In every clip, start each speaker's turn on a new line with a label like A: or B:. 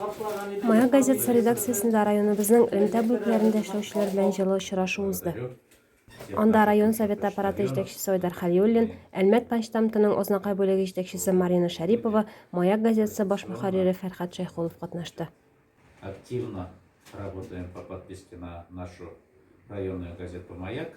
A: Моя газетасы редакциясендә районыбызның элемтә бүлекләрендә эшләүчеләр белән җылы очрашу узды. Анда район совет аппараты җитәкчесе Айдар Хәлиуллин, Әлмәт почтамтының Ознакай бүлеге җитәкчесе Марина Шәрипова, Маяк газетасы баш мөхәррире Фәрхәт Шәйхулов катнашты. Активно
B: работаем по подписке на нашу районную газету «Маяк».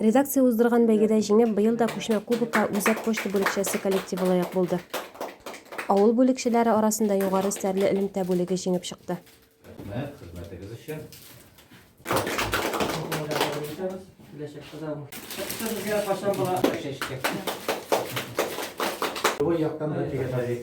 A: Редакция уздырган бәйгедә җиңеп, быел да күчмә кубокка Үзәк почта бүлекчәсе коллективы лаек булды. Авыл бүлекчәләре арасында югары стәрле элемтә бүлеге җиңеп чыкты. Рәхмәт,
B: хезмәтегез
C: өчен. Бу яктан да тигән бик.